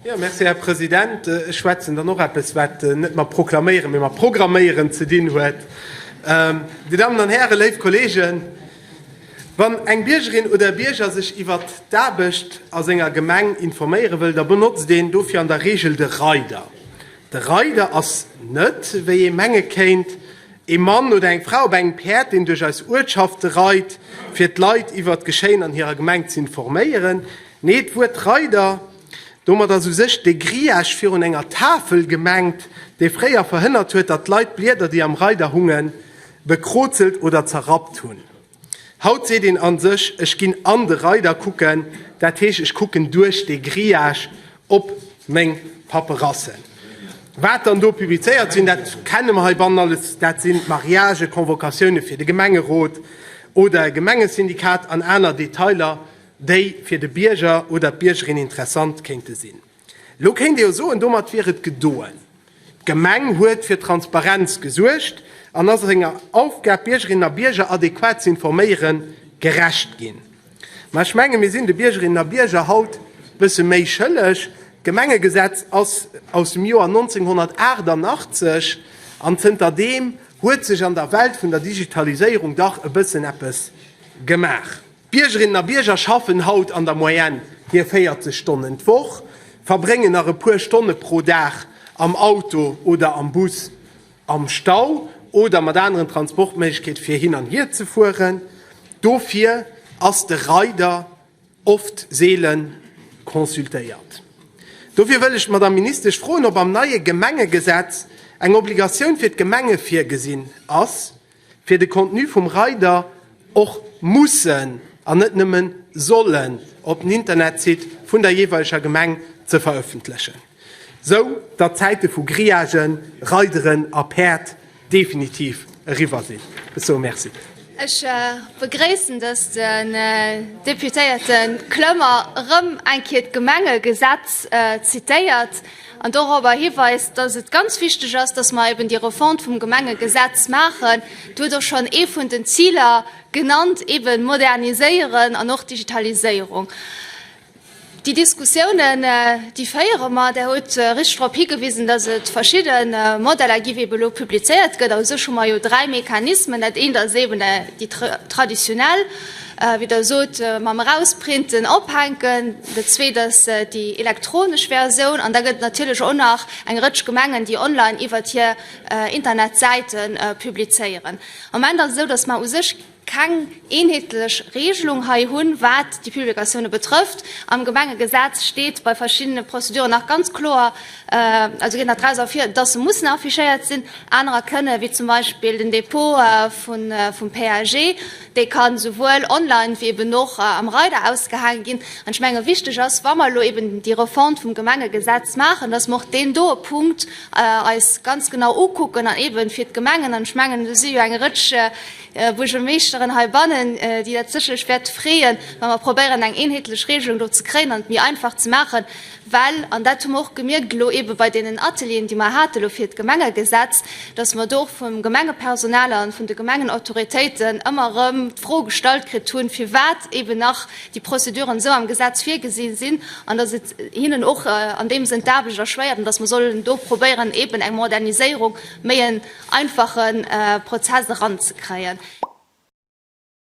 Jo, merci, Här President. Ech schwätzen dann och eppes, wat net mat proklaméieren, mee mat programméieren ze dinn huet. Dir Dammen an Hären, léif Kolleegen, wann eng Biergerin oder e Bierger sech iwwer d'Aarbecht a senger Gemeng informéiere wëll, da benotzt een dofir an der Reegel de Reider. De Reider ass net, wéi ee menge kéint, Ee Mann oder eng Fra op engem Päerd, deen duerch eis Uertschafte reit, fir d'Leit iwwert d'Geschéien an hirer Gemeng z'informéieren. Nee, d'Wuert Reider, domat ass u sech dee Grillage virun enger Tafel gemengt, dee fréier verhënnert huet, datt d'Leit d'Blieder, déi am Reider hungen, bekrozelt oder zerrappt hunn. Haut seet een a sech, ech ginn an de Reider kucken, dat heescht, ech kucken duerch dee Grillage op meng Paperassen. Wat dann do publizéiert sinn, dat kenne mer heibannen alles, dat sinn d'Mariagen, d'Convocatioune fir de Gemengerot oder e Gemengesyndikat an aner Detailer, déi fir de Bierger oder d'Biergerin interessant kéinte sinn. Elo kéint ee jo soen, domat wier et gedoen, d'Gemeng huet fir Transparenz gesuergt an ass senger Aufgab, Biergerinnen a Bierger adequat ze informéieren, gerecht ginn. Mä ech menge mir sinn de Biergerinnen a Bierger haut e bësse méi schëlleg. D'Gemengegesetz ass aus dem Joer 1988 an zënter deem huet sech an der Welt vun der Digitaliséierung dach e bëssen eppes gemaach. D'Biergerinnen a Bierger schaffen haut an der Moyenne hir 40 Stonnen d'Woch, verbréngen nach e puer Stonne pro Dag am Auto oder am Bus am Stau oder mat aneren Transportméiglechkeete fir hin an hier ze fueren. Dofir ass de Rider oft seele consultéiert. Dofir wëll ech d'Madamm Ministesch froen, ob am neie Gemengegesetz eng Obligatioun fir d'Gemenge virgesinn ass, fir de Contenu vum Rider och mussen an net nëmmen sollen op den Internetsite vun der jeeweileger Gemeng ze verëffentlechen, sou datt d'Zäite vu Grillagen, Rideren a Päerd definitiv eriwwer sinn. Sou merci. Ech begréissen, datt den Deputéierte Clement erëm eng Kéier d'Gemengegesetz zitéiert. an dorobber hiweist, dass et ganz wichteg ass, dass mer eben déi Refonte vum Gemengegesetz maachen. Do huet och schonn ee vun den Ziler genannt, eben moderniséieren an och Digitaliséierung. Déi Diskussiounen, déi féiere mer. Der huet richtig drop higewisen, dass et verschidde Modeller gi wéi eben elo publizéiert gëtt. A u sech hu mer jo dräi Mechanismen. Dat eent ass eben déi traditionell. Wéi der sot, mam Erausprinten, Ophänken. Dat Zweet ass déi elektronesch Versioun. An da gëtt et natierlech och nach eng Rëtsch Gemengen, déi online iwwert hir Internetsäite publizéieren. Am Moment ass et esou, datt mer u sech keng eenheetlech Reegelung hei hunn, wat déi Publikatioune betrëfft. Am Gemengegesetz steet bei verschiddene Prozeduren nach ganz kloer, also geet nach draus ervir, datt se mussen affichéiert sinn, anerer kënnen, wéi zum Beispill den Dépôt vum PAG. Déi kann souwuel online ewéi eben och am Rider ausgehaange ginn. An ech menge wichteg ass, wa mer elo eben déi Refonte vum Gemengegesetz maachen, dass mer och deen doe Punkt eis ganz genau ukucken an eben fir d'Gemengen, an ech mengen do si jo eng Rëtsch Buergermeeschteren heibannen, déi dat sécherlech wäerte freeën, wa mer probéieren eng eenheetlech Regelung do ze kréien an et méi einfach ze maachen, Well, an dat hu mer och gemierkt elo eebe bei deenen Atelieren, déi mer hate lo fir d'Gemengegesetz, datt mer do och vum Gemengepersonal a vun de Gemengenautoritéiten ëmmer erëm d'Fro gestallt kritt hunn, firwat eeben nach déi Prozeduren esou am Gesetz virgesi sinn an datt et hinnen och an deem Sënn d'Aarbecht erschwéiert an datt mer sollen do probéieren, eeben eng Moderniséierung, méi en einfachen Prozess eranzekréien.